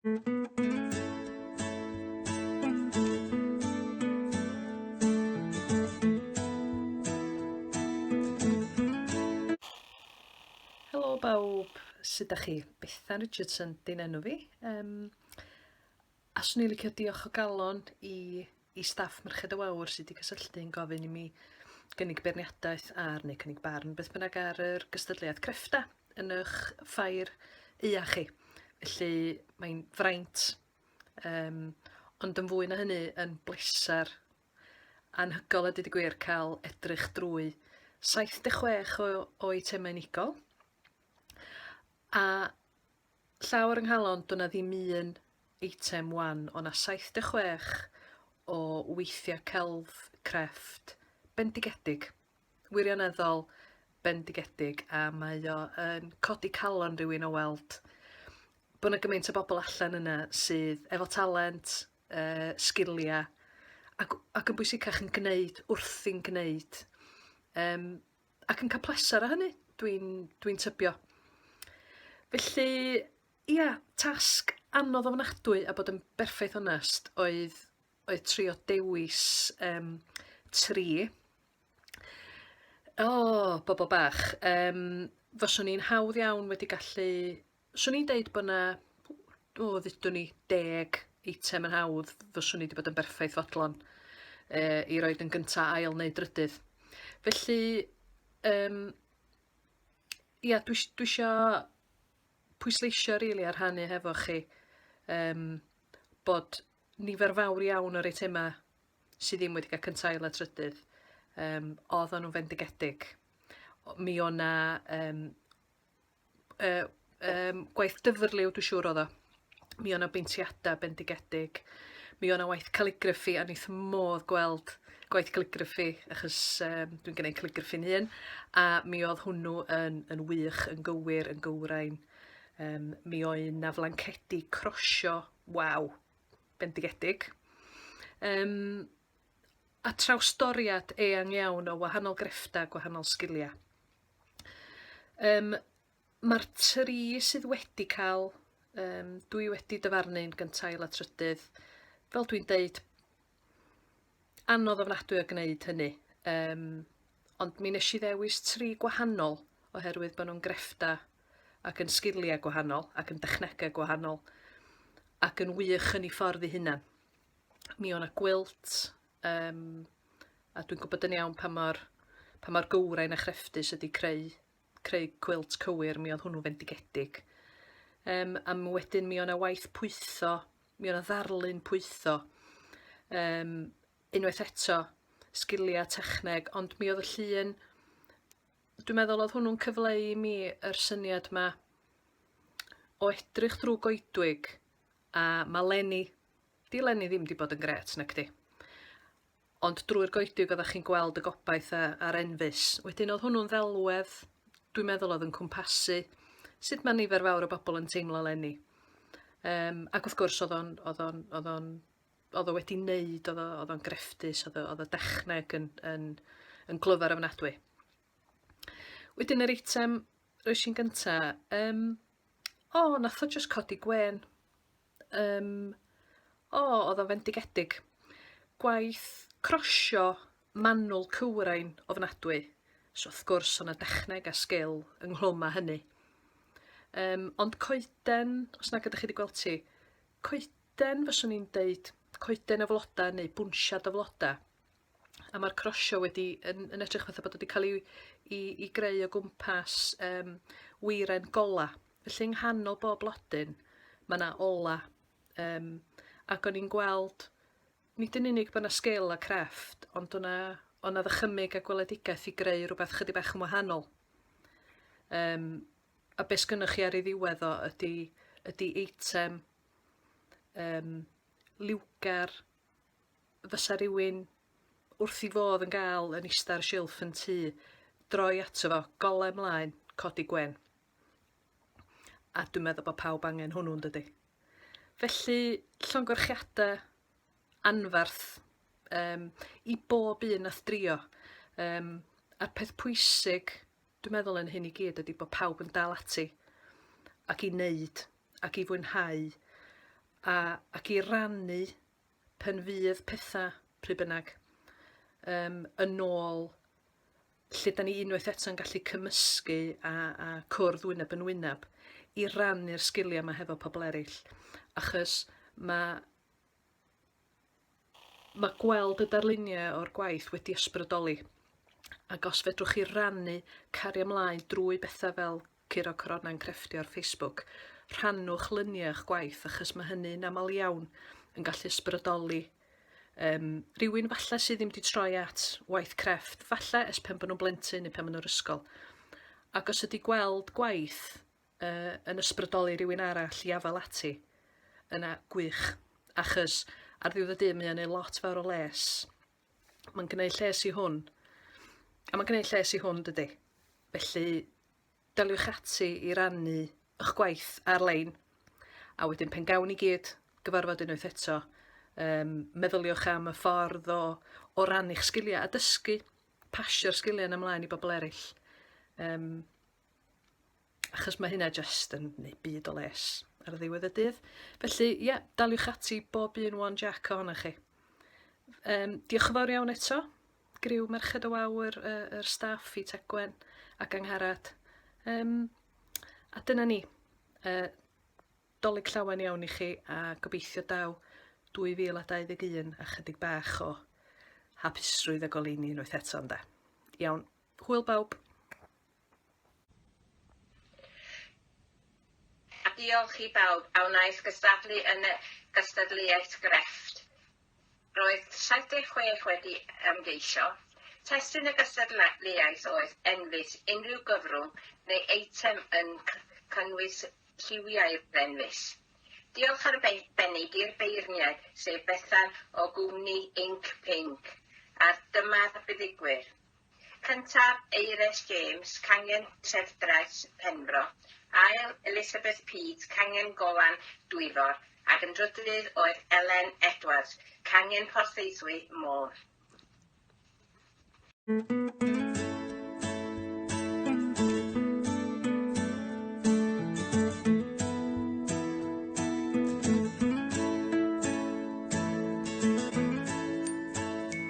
Helo bawb, sut da chi? Bethan Richardson, dyn enw fi. Um, a swn i'n licio diolch o galon i i staff Merched y Wawr sydd wedi cysylltu yn gofyn i mi gynnig beirniadaeth ar, neu cynnig barn, beth bynnag ar yr gystadleuaeth creffta yn eich ffair ua chi. Felly mae'n fraint, um, ond yn fwy na hynny yn bleser anhygol a dyd y gwir cael edrych drwy 76 o, o eitemau unigol a Llaw ar 'y nghalon, do' 'na ddim un eitem wan, o' 'na 76 o weithiau celf, crefft, bendigedig, wirioneddol bendigedig, a mae o yn codi calon rhywun o weld bod 'na gymaint o bobl allan yna sydd efo talent, uh, sgiliau, ac, ac yn bwysicach yn gwneud wrthi'n gwneud. Um, ac yn cael pleser o hynny, dwi'n dwi tybio. Felly, ia, tasg anodd ofnadwy a bod yn berffaith onest oedd, oedd trio dewis um, tri. O, oh, bobl bach. Um, fyswn i'n hawdd iawn wedi gallu 'swn i'n deud bo' 'na o ddudwn i deg eitem yn hawdd fyswn i 'di bod yn berffaith fodlon yy i roid yn gynta ail neu drydydd. Felly yym ia dwi s- dwi isio pwysleisio rili a rhannu hefo chi yym bod nifer fawr iawn o'r eitema sy ddim wedi cael cynta ail a trydydd yym oeddan nhw'n fendigedig. O- Mi o' 'na yym yy yym gwaith dyfrliw dwi siŵr odd o. Mi o' 'na beintiada bendigedig. Mi o' 'na waith caligraffi a nith modd gweld gwaith caligraffi achos um, dwi'n gwneud caligraffi'n hun a mi oedd hwnnw yn, yn wych, yn gywir, yn gywrain. Um, mi oedd 'na flancedi crosio, waw, bendigedig. Um, a trawstoriad eang iawn o wahanol grefftau, gwahanol sgiliau. Yym ma'r tri sydd wedi ca'l yym dwi wedi dyfarnu'n gynta ail a trydydd fel dwi'n deud anodd ofnadwy o gneud hynny yym ond mi nesh i ddewis tri gwahanol oherwydd bo' nhw'n greffta ac yn sgilia gwahanol ac yn dechnege gwahanol ac yn wych yn 'u ffordd 'u hunan. Mi o' 'na gwilt, Um, a dwi'n gwybod yn iawn pa mor, pa mor gywrain a chrefftus ydy creu, creu cwilt cywir, mi oedd hwnnw fendigedig. Um, a wedyn mi o'na waith pwytho, mi o'na ddarlun pwytho. Um, unwaith eto, sgiliau techneg, ond mi oedd y llun, dwi'n meddwl oedd hwnnw'n cyfleu i mi yr syniad ma o edrych drwy goedwig a maleni 'Di leni ddim 'di bod yn grêt, nacdi? Ond drwy'r goediog oeddach chi'n gweld y gobaith a, a'r enfys. Wedyn oedd hwnnw'n ddelwedd, dwi'n meddwl oedd yn cwmpasu sut mae nifer fawr o bobl yn teimlo leni. Um, ac wrth gwrs oedd o'n, oedd o'n, oedd o'n, oedd o wedi wneud, oedd o'n grefftus, oedd o, oedd o dechneg yn, yn, yn glyfar ofnadwy. Wedyn yr eitem roes i'n gynta, um, o, nath o just codi gwen. Yym o odd o'n fendigedig. Gwaith crosio manwl cywrain ofnadwy. So wrth gwrs o' 'na dechneg a sgil ynghlwm â hynny. Yym ond coeden, os nag ydych chi 'di gweld ti, coeden fyswn i'n deud coeden o floda neu bwnsiad o floda. a mae'r crosio wedi yn yn edrych fatha bod wedi cael ei i i greu o gwmpas yym weiren gola. Felly yng nghanol bob blodyn mae yna ola um, ac o'n i'n gweld nid yn unig bod yna sgil a crefft ond o'na o'na ddychymyg a gweledigaeth i greu rhywbeth chydig bach yn wahanol. Um, a beth sgynnoch chi ar ei ddiwedd o ydy, ydy eitem um, liwgar fysa rywun wrth 'i fodd yn gael yn ista ar silff yn tŷ, droi ato fo, golau mlaen, codi gwen. A dwi'n meddwl bod pawb angen hwnnw yn dydy. Felly, llongyfarchiadau anfarth um, i bob un nath drio. Um, a'r peth pwysig, dwi'n meddwl yn hyn i gyd, ydy bod pawb yn dal ati ac i wneud ac i fwynhau a, ac i rannu pan fydd petha, pryd bynnag, um, yn ôl lle da ni unwaith eto'n gallu cymysgu a, a cwrdd wyneb yn wyneb i rannu'r sgiliau yma hefo pobl eraill. Achos mae mae gweld y darluniau o'r gwaith wedi ysbrydoli. Ac os fedrwch chi rannu cario ymlaen drwy bethau fel Curo Coronau'n crefftio ar Facebook, rhannwch luniau o'ch gwaith achos mae hynny'n aml iawn yn gallu ysbrydoli um, rhywun falle sydd ddim wedi troi at waith crefft, falle es pen bod nhw'n blentyn neu pen bod nhw'r ysgol. Ac os ydy gweld gwaith uh, yn ysbrydoli rhywun arall i afel ati, yna gwych, achos ar ddiwedd y dydd mae o'n ei lot fawr o les Mae'n gwneud lles i hwn. A mae'n gwneud lles i hwn, dydy. Felly, daliwch ati i rannu eich gwaith ar-lein. A wedyn pen gawn i gyd gyfarfod unwaith eto, um, meddyliwch am y ffordd o, o ran eich sgiliau a dysgu pasio'r sgiliau yn ymlaen i bobl eraill. Um, achos mae hynna just yn gwneud byd o les ar ddiwedd y dydd. Felly, ie, yeah, daliwch ati bob un one jack ohonoch chi. Um, diolch yn fawr iawn eto. Griw Merched o Wawr, y, y staff i Tegwen ac Angharad. Um, a dyna ni. Uh, dolyg llawen iawn i chi a gobeithio daw 2021 a chydig bach o hapusrwydd a goleini unwaith eto ynda. Iawn, hwyl bawb. A diolch i bawb a wnaeth gystadlu yn y gystadleuaeth grefft. Roedd 76 wedi ymgeisio. Testun y gystadleuaeth oedd enfys unrhyw gyfrwng neu eitem yn cynnwys lliwiau enfys. Diolch arbennig i'r beirniaid, sef Bethan o gwmni Inc Pink, a'r Dyma'r Buddugwyr, Cyntaf, Eires James, cangen Trefdraeth, Penfro. Ail, Elizabeth Peat, cangen Golan, Dwyfor, ac yn drydydd oedd Elen Edwards, cangen Porthaethwy, Môn.